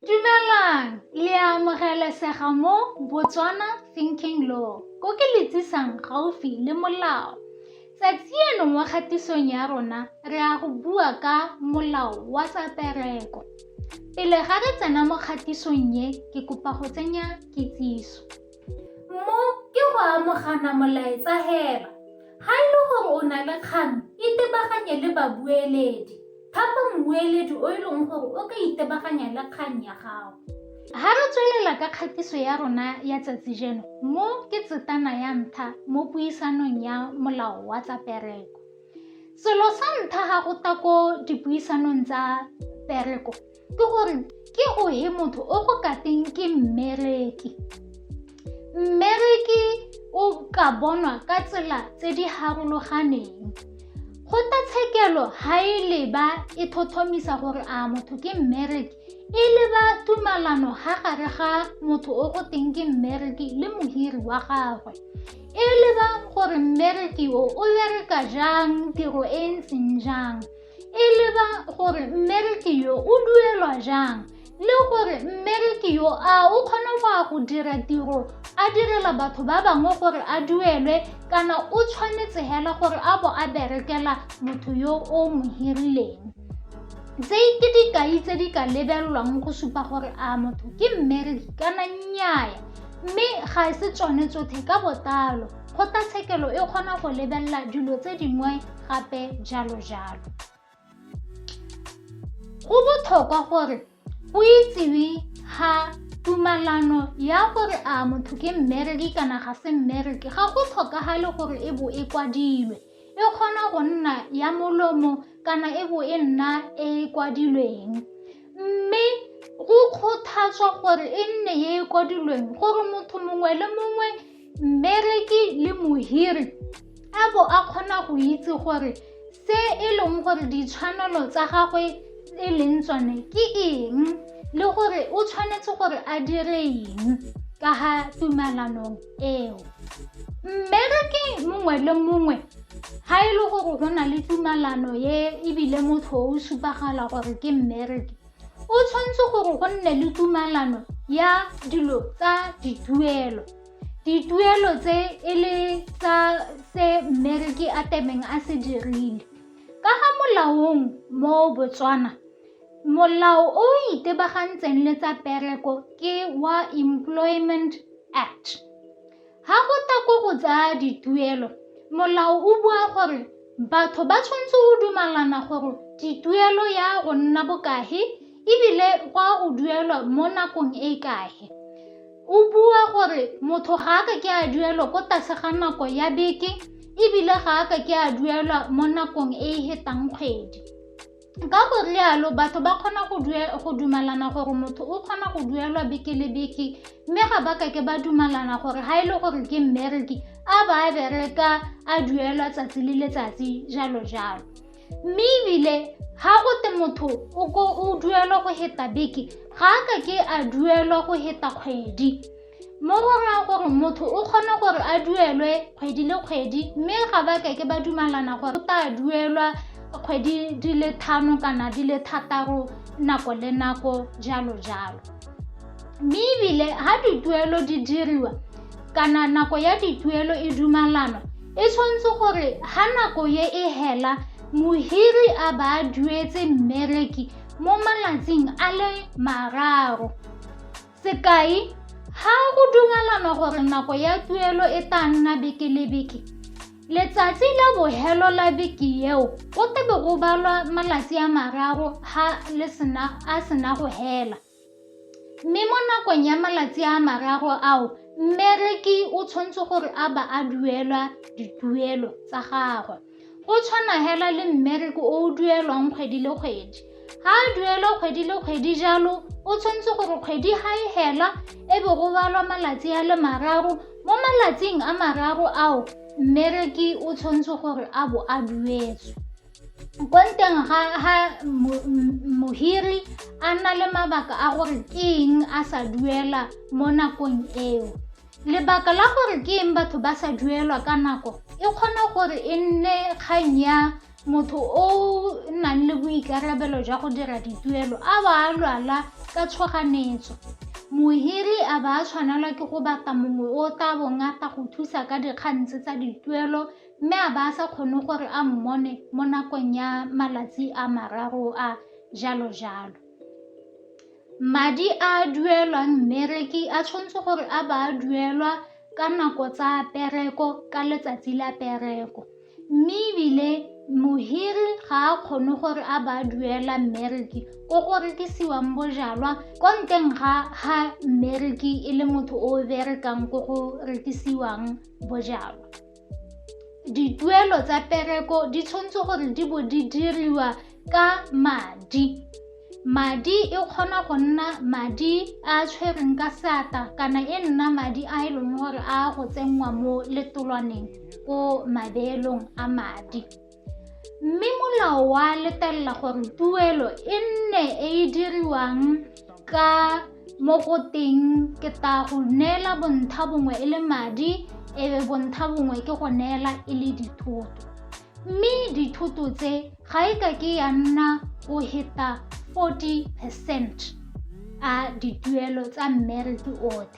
Dumelang! Le a amogelesega mo Botswana Thinking Law, ko ke le tsisang gaufi le molao. Tsatsi eno mo kgatisong ya rona, re a go bua ka molao wa tsa pereko. Pele ga re tsena mo kgatisong e, ke kopa go tsenya kitsiso. Mo ke go amogana molaetsa hela. Ha e le gore o na le kgang, itebaganye le babueledi. Thapa mmueledi o e leng gore o ka itebaganya le kgang ya gago. Ga re tswelela ka kgatiso ya rona ya tsatsi jeno, mo ke tsetana ya ntlha mo puisanong ya molao wa tsa pereko. Selo sa ntlha ga go ta ko dipuisanong tsa pereko, ke gore ke ohe motho o go kateng ke mmereki mmereki o ka bonwa ka tsela tse di harologaneng kgotlatshekelo ga e leba e thothomisa gore a motho ke mmereki e leba tumalano ga gare ga motho o go teng ke mmereki le mohiri wa gagwe e lebang gore mmereki o o bereka jang tiro e ntseng jang e leba gore mmereki yo o duelwa jang le gore mmereki yo a o kgona go ya go dira tiro a direla batho ba bangwe gore a duelwe kana o tshwanetse hela gore a bo a berekela motho yo o mo hirileng tse ke dikai tse di ka lebelelwang go supa gore a motho ke mmereki kana nnyaya mme ga e se tsone tsotlhe ka botlalo kgotlatshekelo e kgona go lebelela dilo tse dingwe gape jalo jalo go botlhokwa gore o itsewe ga tumalano ya gore a motho ke mmereki kana ga se mmereki ga go tlhokagale gore e bo e kwadilwe e kgona go nna ya molomo kana e bo e nna e e kwadilweng mme go kgothatswa gore e nne e e kwadilweng gore motho mongwe le mongwe mmereki le mohiri a bo a kgona go itse gore se e leng gore ditshwanelo tsa gagwe e leng tsone ke eng le gore o tshwanetse gore a dire eng ka ga tumalanong eo mmereki mongwe le mongwe ga e le gore go na le tumalano ye ebile motho o supagala gore ke mmereki O tshwanetse gore go nne le tumalano ya dilo tsa dituelo. Dituelo tse e le tsa se mmereki a temeng a se dirile. Ka ga molaong mo Botswana, molao o itebagantseng le tsa pereko ke wa Employment Act. Ga go tla ko go tsa dituelo, molao o bua gore batho ba tshwanetse go dumalana gore dituelo ya go nna bokahe ebile go a go duelwa mo nakong e e kahe. O bua gore motho ga a ka ke a duelwa ko tlase ga nako ya beke ebile ga a ka ke a duelwa mo nakong e e hetang kgwedi. ka go rialo batho ba kgona go dumalana gore motho o kgona go duelwa beke le beke mme ga ba kake ba dumalana gore ga e le gore ke mmereki a ba a bereka a duelwa tsatsi le letsatsi jalo jalo mme ebile ga go te motho o duelwa go heta beke ga a kake a duelwa go heta kgwedi mo go raya gore motho o kgona gore a duelwe kgwedi le kgwedi mme ga ba keke ba dumalana gore o tla duelwa kgwedi di le thano kana di le thataro nako le nako jalo jalo mme ebile ga dituelo di diriwa kana nako ya dituelo e dumalanwa e tshwanetse gore ga nako ye e hela mohiri a ba a duetse mmereki mo malatsing a le mararo Sekai, ha go dumalanwa gore nako ya tuelo e tla nna beke le beke, letsatsi la bohelo la beke eo go tebe go balwa malatsi a mararo ha le sena a sena go hela. Mme mo nakong ya malatsi a mararo ao, mmereki o tshwanetse gore a ba a duelwa dituelo tsa gagwe. O tshwana hela le mmereko o o duelwang kgwedi le kgwedi. Ga a duelwa kgwedi le kgwedi jalo, o tshwanetse gore kgwedi ga e hela e be go balwa malatsi a le mararo. Mo malatsing a mararo ao, mmereki o tshwanetse gore a bo a duetswe. Ko nteng ga mohiri a na le mabaka a gore ke eng a sa duela mo nakong eo. Lebaka la gore ke eng batho ba sa duelwa ka nako e kgona gore e nne kgang ya motho o nang le boikarabelo jwa go dira dituelo a ba a lwala ka tshoganetso. Mohiri a ba a tshwanelwa ke go batla mongwe o tla bong a tla go thusa ka dikgang tse tsa dituelo mme a ba a sa kgone gore a mmone mo nakong ya malatsi a mararo a jalo jalo. Madi a a duelwang mmereki a tshwanetse gore a ba a duelwa ka nako tsa pereko ka letsatsi la pereko, mme ebile mohiri ga a kgone gore a ba a duela mmereki ko go rekisiwang bojalwa ko nteng ga ha mmereki e le motho o berekang ko go rekisiwang bojalwa. dituelo tsa pereko di tshwanetse gore di bo di diriwa ka madi madi e kgona go nna madi a tshwereng ka seatla kana e nna madi a e leng gore a go tsenngwa mo letolwaneng ko mabeelong a madi mme molao wa letelela gore tuelo e nne e e diriwang ka mo go teng ke ta go neela bontsha bongwe e le madi e be bontsha bongwe ke go neela e le dithoto mme dithoto tse ga e ka ke ya nna go heta 40 percent a dituelo tsa mmereki otlhe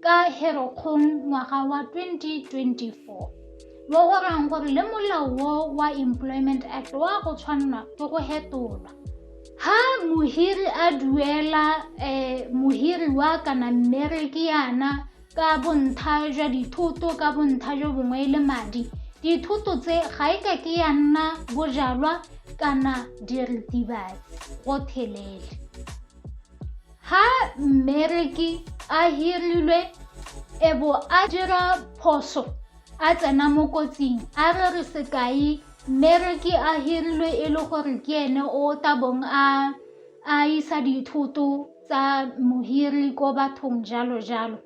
ka Herokgong ngwaga wa 2024, mo go rang gore le molao wo wa Employment Act wa go tshwanelwa ke go hetolwa. Ha mohiri a duela eh, mohiri wa kana mmereki yana ka bontha jwa dithoto ka bontha jo bongwe le madi dithoto tse ga e ka ke ya nna bojalwa kana diritibatsi go thelele Ha mmereki a hirilwe e bo a dira phoso a tsena mo kotsing a re re sekai mmereki a hirilwe e le gore ke ene o tabong a a isa dithoto tsa mohiri ko bathong jalo jalo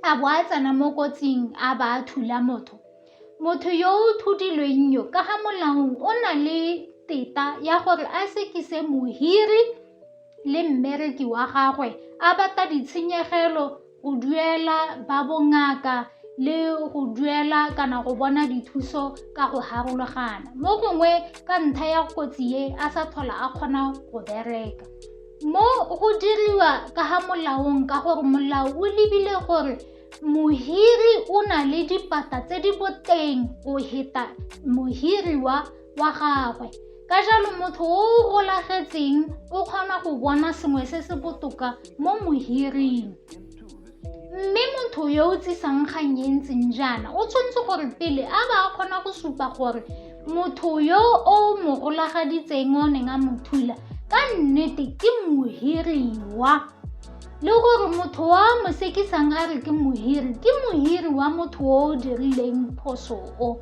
a bo a tsena mo kotsing a ba a thula motho motho yo o thudilweng yo ka ga molaong o na le teta ya gore a sekise mohiri le mmereki wa gagwe a bata ditshenyegelo go duela ba bongaka le go duela kana go bona dithuso ka go harologana mo gongwe ka ntlha ya kotsi e a sa tlhola a kgona go bereka mo go diriwa ka ga molaong ka gore molao o lebile gore mohiri o na le dipata tse di boteng go heta mohiriwa wa gagwe. Ka jalo motho o o golagetseng o kgona go bona sengwe se se botoka mo mohiring. Mme motho yo o tsisang kgang e ntseng jaana o tshwanetse gore pele a ba a kgona go supa gore motho yo o mo golagaditseng o neng a mo thula ka nnete ke mohiriwa le gore motho wa mo sekisang a re ke mohiri ke mohiri wa motho o o dirileng phoso o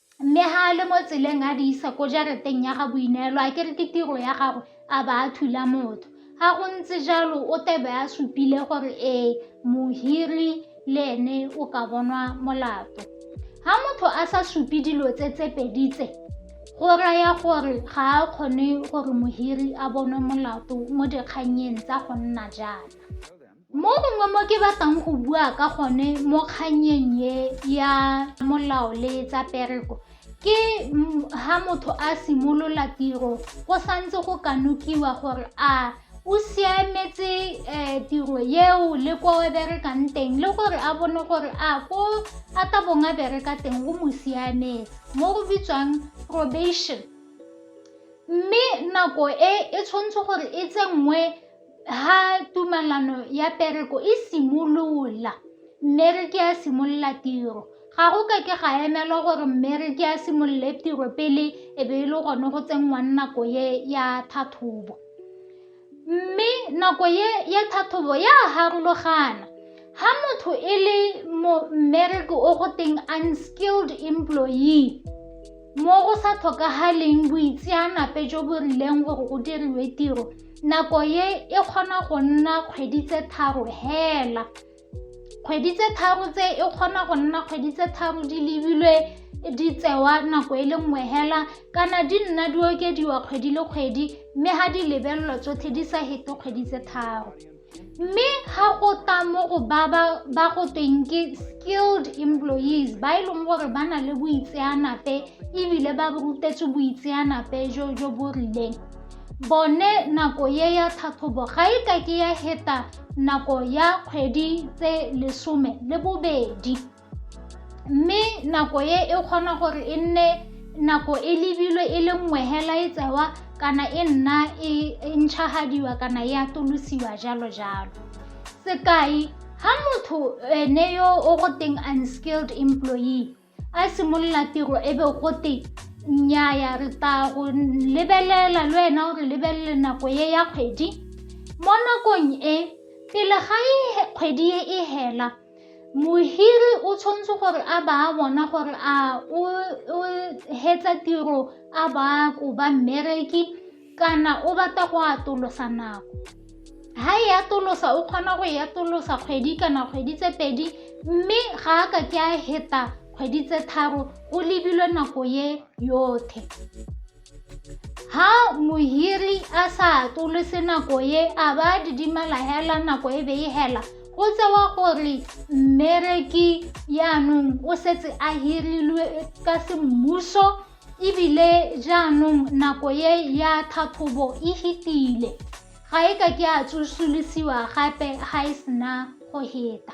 Mme ga a le mo tseleng a di isa ko jarateng ya ga Boineelo, a kere ke tiro ya gagwe a ba a thula motho. Ga go ntse jalo o tebe a supile gore ee mohiri le ene o ka bonwa molato. Ga motho a sa supe dilo tse tse pedi tse, go raya gore ga a kgone gore mohiri a bonwe molato mo dikgannyeng tsa go nna jaana. Mo gongwe mo ke batlang go bua ka gone mo kganyeng ye ya molao le tsa pereko ke ha motho a simolola tiro go santse go kanokiwa gore a o siametse um tiro eo le ko o berekang teng le gore a bone gore a ko a ka bong a bereka teng o mo siametse mo go bitswang probation mme nako e e tshwanetse gore e tsenngwe ha tumalano ya pereko e simolola, mmereki a simolola tiro, ga go ka ke ga emelwa gore mmereki a simolole tiro pele e be e le gone go tsenngwa nako ye ya tlhatlhobo. Mme nako ye ya tlhatlhobo ya farologana, ha motho e le mmereki o go teng unskilled employee mo go sa tlhokagaleng boitseanape jo bo rileng gore go diriwe tiro, nako ye e kgona go nna kgwedi tse tharo hela kgwedi tse tharo tse e kgona go nna kgwedi tse tharo di lebilwe di tsewa nako e le nngwe hela kana di nna di okediwa kgwedi le kgwedi mme ga di lebelelwa tsotlhe di sa hete kgwedi tse tharo mme ga go tla mo go ba ba go tweng ke skilled employees ba e leng gore ba na le boitseanape ebile ba rutetswe boitseanape jo jo bo rileng bone nako ye ya tlhatlhobo ga e ka ke ya heta nako ya kgwedi tse lesome le bobedi mme nako e e kgona gore e nne nako e lebilwe e le nngwe hela e tsewa kana e nna e, e ntšhagadiwa kana e atolosiwa jalo jalo sekai ha motho ene yo o go teng unskilled employee a simolola tiro e be go teng nnyaya re tla go lebelela le wena o re lebelele nako e ya kgwedi mo nakong e pele ga e kgwedi e e hela mohiri o tshwanetse gore a ba a bona gore a o hetsa tiro a ba ko ba mmereki kana o batla go atolosa nako ha e atolosa o kgona go e atolosa kgwedi kana kgwedi tse pedi mme ga a ka ke a heta kgwedi tse tharo go lebilwe nako ye yothe ha mohiri a sa atolose nako ye a ba didimala hela nako e be e hela go tsewa gore mmereki yaanong o setse a hirilwe ka semmuso ebile jaanong nako ye ya tlhatlhobo e fetile ga e ka ke a tsosolosiwa gape ga e sena go heta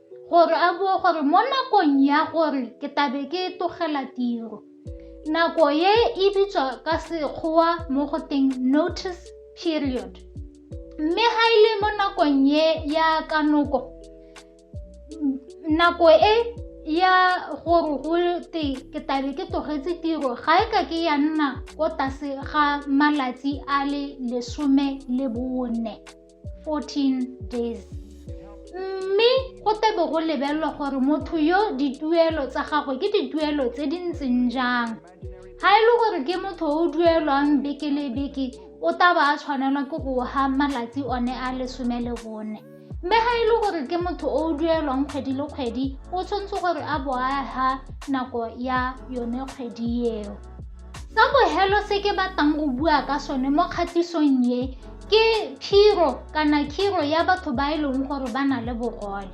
gore a bue gore mo nakong ya gore ke tabe ke tlogela tiro nako e e bitswa ka sekgowa mo go teng notice period mme ga e le mo nakong e ya kanoko nako e ya gore go te ke tabe ke tlogetse tiro ga e ka ke ya nna ko tlase ga malatsi a le lesome le bone 14 days mme go tebe go lebelelwa gore motho yo dituelo tsa gagwe ke dituelo tse di ntseng jang ga e le gore ke motho o duelwang beke le beke o taba a tshwanelwa ke go ga malatsi one a lesome le bone mme ga e le gore ke motho o duelwang kgwedi le kgwedi o tshwanetse gore a bo a ga nako ya yone kgwedi eo Sa bohelo se ke batlang go bua ka sone mo kgatisong ye ke phiro kana khiro ya batho ba e leng gore ba na le bogole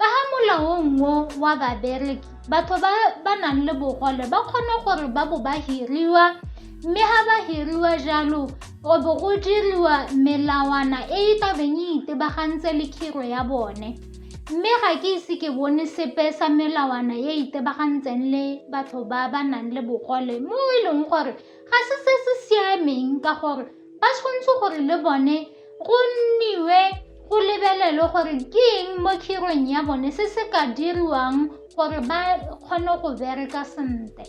ka ga molaong o wa babereki batho ba ba nang le bogole ba kgone gore ba bo ba hiriwa mme ga ba hiriwa jalo go bo go diriwa melawana e e tlabeng e itebagantse le khiro ya bone Mme ga ke ise ke bone sepe sa melawana e itebagantseng le batho ba ba nang le bogole mo e leng gore ga se se se siameng ka gore ba tshwanetse gore le bone go nniwe go lebelelwe gore ke eng mo khirong ya bone se se ka diriwang gore ba kgone go bereka sentle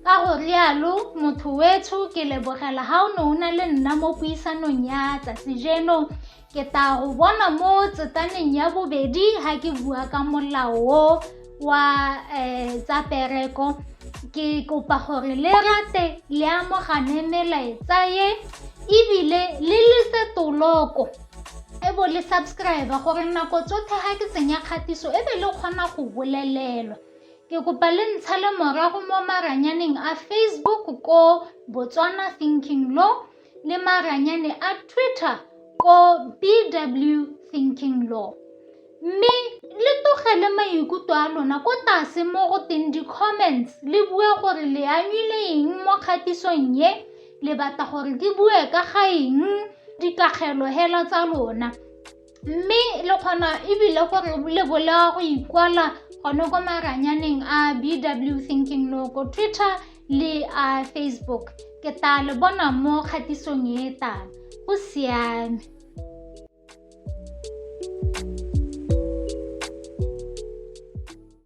ka go rialo motho wetsho ke lebogela ga o ne o na le nna mo puisanong ya tsatsi jeno Ke tla go bona mo tsetaneng ya bobedi ga ke bua ka molao o wa um tsa pereko ke kopa gore le rate le amogane melaetsa ye ebile le lese toloko e bo le subscribe gore nako tsotlhe ga ke tsenya kgatiso e be le kgona go bolelelwa ke kopa le ntsha le morago mo maranyaneng a facebook ko botswana thinking law le maranyane a Twitter ko BW Thinking Law. Mme le tlogele maikutlo a lona ko tlase mo go teng di-comments le bue gore le anyile eng mo kgatisong ye le batla gore ke bue ka ga eng dikagelo hela tsa lona. mme le kgona ebile gore le bola go ikwala gone ko maranyaneng a bw thinking lo ko twitter le a facebook ke tla le bona mo kgatisong e tang go siame